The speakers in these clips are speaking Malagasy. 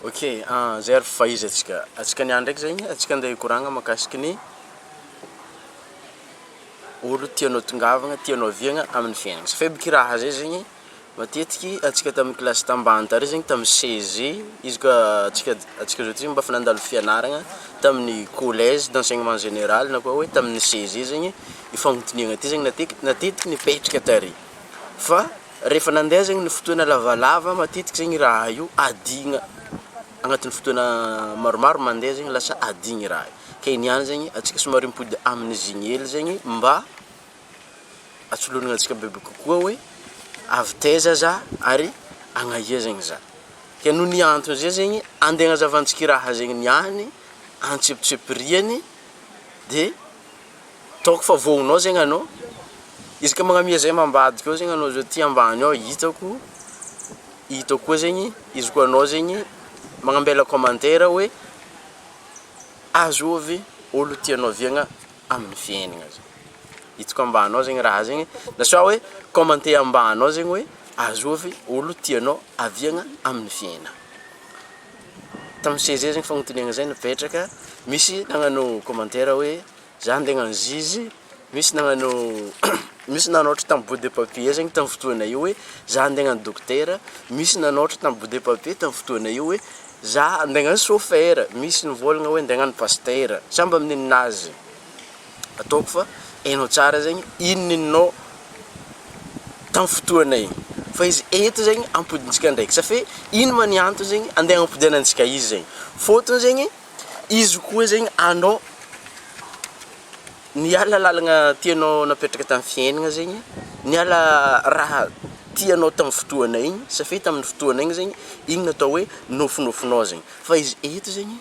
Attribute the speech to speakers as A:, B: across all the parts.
A: Ok ahh zay ary fa izy atsika atsika niany ndraiky zay atsika ndeha hikoragna makasiky ny olo tianao tongavagna tianao aviagna aminy fiainagna sa faible kiraha zay zegny matetiky atsika tamy kilasy tambany tary zegny tamy CEG izy ka atsika atsika zao ty mba efa nandalo fianaragna taminy collège d'enseignement général na koa hoe taminy CEG zegny ifagnotiniagna ty zegny matetiky matetika nipetraka tary fa Rehefa nandeha zegny ny fotoana lavalava matetika zegny raha io adigna agnatin'ny fotoana maromaro mandeha zegny lasa adigny raha io, ke niany zegny antsika somary mipody amin'izigny hely zegny mba atsolonognantsika bebe kokoa hoe avy taiza za ary agnaia zegny za, ke noho ny antony zay zegny ande agnazavantsika i raha zegny niany antsipitsipiriany de. Hitako fa voanao zegny anao, isaka magnamia zay ambadika ao zegny anao zao aty ambany ao hitako, hitako koa zegny izy koa anao zegny magnambela commentaire hoe azovy olo tianao viagna amin'ny fiaignana zao, hitako ambany ao zegny raha zegny, na sao hoe commenter ambany ao zegny hoe azovy olo tianao aviagna amin'ny fiaignana. Tamin'ny seize heures iny fagnotaniagna zay nipetraka, misy nagnano commentaire hoe za andeha hagnano zizi, misy nagnano misy nanaotra tamin'ny bout de papier zegny tamin'ny fotoagna io hoe za andeha hagnano dokotera, misy nanaotra tamin'ny bout de papier tamin'ny fotoagna io hoe za andeha hagnano chauffeur, misy nivôlagna hoe andeha hagnano pasitera, samy mba amin'ny ninazy. Ataoko fa hainao tsara zegny inona ininao tam fotoana igny fa izy eto zegny ampodintsika ndraiky sa fe ino ma ny antony zegny ande agnampodenantsika izy zegny fôtony zegny izy koa zegny anao niala lalagna tianao napetraka tam fiaignana zegny niala raha tianao tam fotoana igny sa fe tam fotoana igny zegny igny atao hoe nofinofinao zegny fa izy eto zegny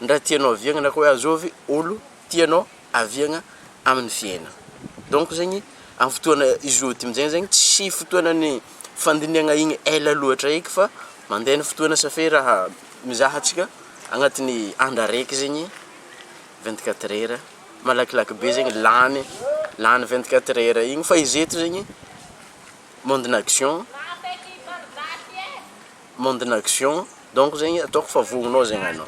A: ndray tianao aviagna na koa hoe azovy olo tianao aviagna amin'ny fiainana. Donc zegny amin'ny fotoana izoa ty amin'izay zegny tsy fotoanan'ny fandinihagna igny ela loatra eky fa mandeha ny fotoana ça fait raha mizaha antsika agnatin'ny andro araiky zegny vingt quatre heures malakilaky be zegny lany lany vingt quatre heures igny fa izy eto zegny monde-na action. monde n'action donc zegny ataoko fa vognonao zegny anao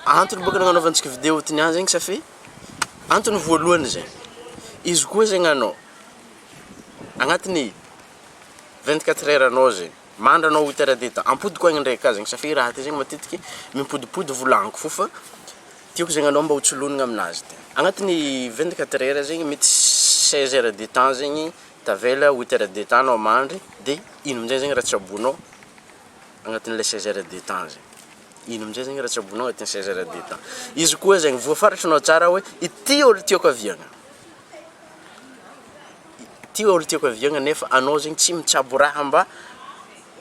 A: antony boka nagnanaovantsika video ty niany zegny satria antony voalohany zay izy koa zegny anao agnatiny vingt quatre heure anao zegny mandry anao huit heure de temps ampodiko agny ndray ka zegny satria raha ty zegny matetiky mimpodimpody volagniko fofa Tiako zegny anao mba ho tsolonigny aminazy de agnatin'ny vingt quatre heures zegny mety seize heures de temps zegny tavela huit heures de temps anao mandry de ino amizay zegny raha tsaboinao agnatin'ilay seize heures de temps zay, ino amizay zegny raha tsaboinao agnatin'ny seize heures de temps, izy koa zegny voafaritrinao tsara hoe ity olo tiako aviagna, ity olo tiako aviagna nefa anao zegny tsy mitsabo raha mba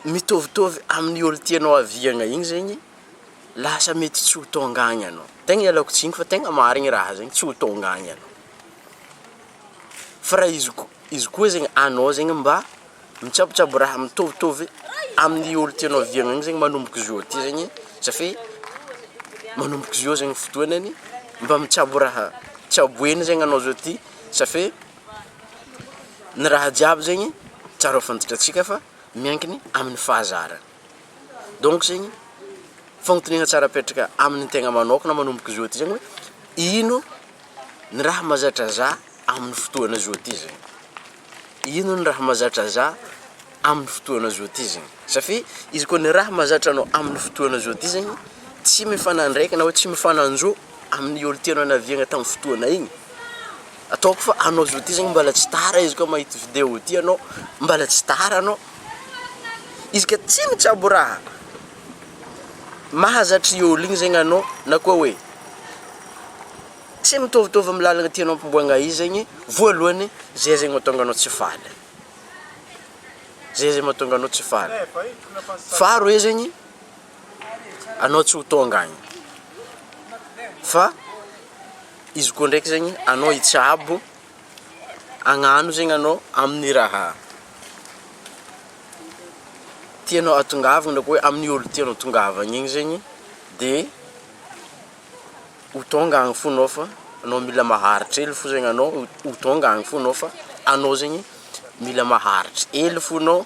A: mitovitovy amin'ny olo tianao aviagna igny zegny Lasa mety tsy ho tonga agny anao. Tegna ialako tsiny fa tegna marigny raha zegny, tsy ho tonga agny anao. Fa raha izy ko- izy koa zegny anao zegny mba mitsabotsabo raha mitovitovy amin'ny olo tianao viagna igny zegny manomboka zao ty zegny sa fe manomboka zao zegny fotoanany mba mitsabo raha tsaboigny zegny anao zao ty sa fe ny raha jiaby zegny tsara ho fantatratsika fa miankigny amin'ny fahazarana. Donc zegny fagnotaniana tsara apetraka amin'ny tegna manokana manomboka zao ty zegny hoe ino ny raha mazatra za amin'ny fotoana zao ty zegny, ino ny raha mazatra za amin'ny fotoana zao ty zegny, satria izy koa ny raha mazatra anao amin'ny fotoana zao ty zegny tsy mifanandraika na hoe tsy mifananjo amin'ny olo tianao naviagna tamin'ny fotoana igny. ataoko fa anao zao ty zany mbala tsy tara izy koa mahita video ty anao mbala tsy tara anao izy ka tsy mitsabo raha mahazatra i ol igny zegny anao na koa hoe tsy mitaovitôvy amy lalagna tianao ampiboagna izy zegny voalohany zay zegny mahatonga anao tsy faly zay zegny mahatonga anao tsy faly faharoe zegny anao tsy ho tônga agny fa Izy koa ndraiky zegny anao hitsabo agnano zegny anao amin'ny raha tianao hatongavana na koa hoe amin'ny olo tianao hatongavana igny zegny de ho tonga agny fo anao fa anao mila maharitra hely fo zegny anao ho tonga agny fo anao fa anao zegny mila maharitra hely fo anao.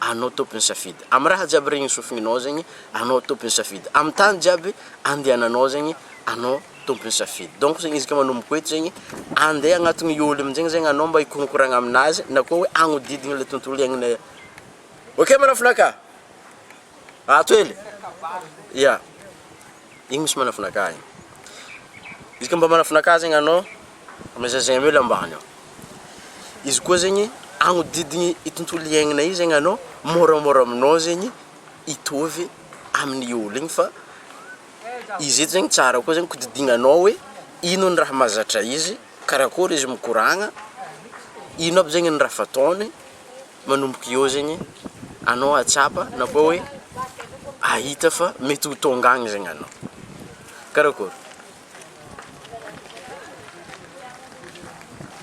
A: Anao tompony safidy am raha jiaby regny sofigninao zegny anao tompony safidy am tany jiaby andehananao zegny anao tompony safidy donc zegny izy ka manomboko eto zegny andeha agnatiny i olo amizegny zegny anao mba hikoronkoragna aminazy na koa hoe agnodidigny le tontolo iaignanay ok manafinaka ato hely ya. Igny misy manafinaka igny. Izy koa mba manafinaka zegny anao, mba zazay hely ambany ao. Izy koa zegny agnodidigny i tontolo iaignana io zegny anao, môramôra aminao zegny hitovy amin'ny olo igny fa izy eto zegny tsara koa zegny kodidignanao hoe ino ny raha mahazatra izy, karakôry izy mikoragna, ino aby zegny ny raha fataony. manomboka eo zegny anao ahatsapa na koa hoe ahita fa mety ho tonga agny zegny anao, karakôry?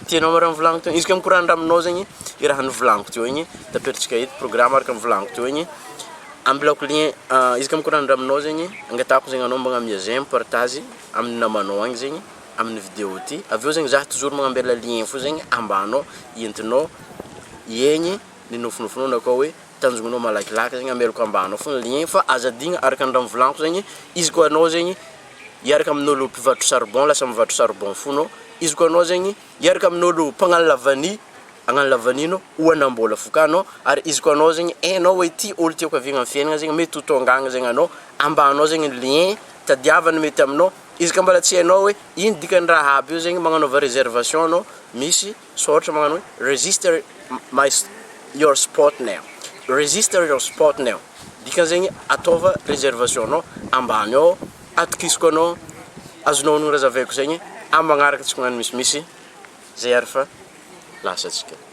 A: Tianao raha novolaniko teo? Izy koa mikorandra aminao zegny i raha novolaniko teo igny, taperin-tsika eto programme araka ny volaniko teo igny, ambilako lien izy koa mikorandra aminao zegny, angatahako zegny anao mba miha j'aime, partage amin'ny namanao agny zegny. amin'ny vidéo ity avy eo zegny za toujours magnambela lien fo zegny ambany ao entinao hiegny ny nofinofinao na koa hoe tanjognonao malakilaky zegny amelako ambany ao fogna lien fa aza adigna araka ny raha mivolaniko zegny izy koa anao zegny hiaraka amin'olo mpivarotra charbon lasa mivarotra charbon fo anao izy koa anao zegny hiaraka amin'olo mpagnano lavany hagnano lavany anao ho hanam-bola fo ka anao ary izy koa anao zegny hainao hoe ty olo tiako haviagna am'fiaignana zegny mety ho tônga agny zegny anao ambany ao zegny ny lien tadiava ny mety aminao Izy ka mbola tsy hainao hoe ino dikan'ny raha aby io zegny magnanaova réservation anao misy sao ohatra magnano hoe register my your spot now register your spot now dikany zegny ataova réservation anao ambany ao atokisako anao azonao honogno raha zavaiko zegny amin'ny magnaraka tsy koa magnano misimisy zay ary fa lasa tsika.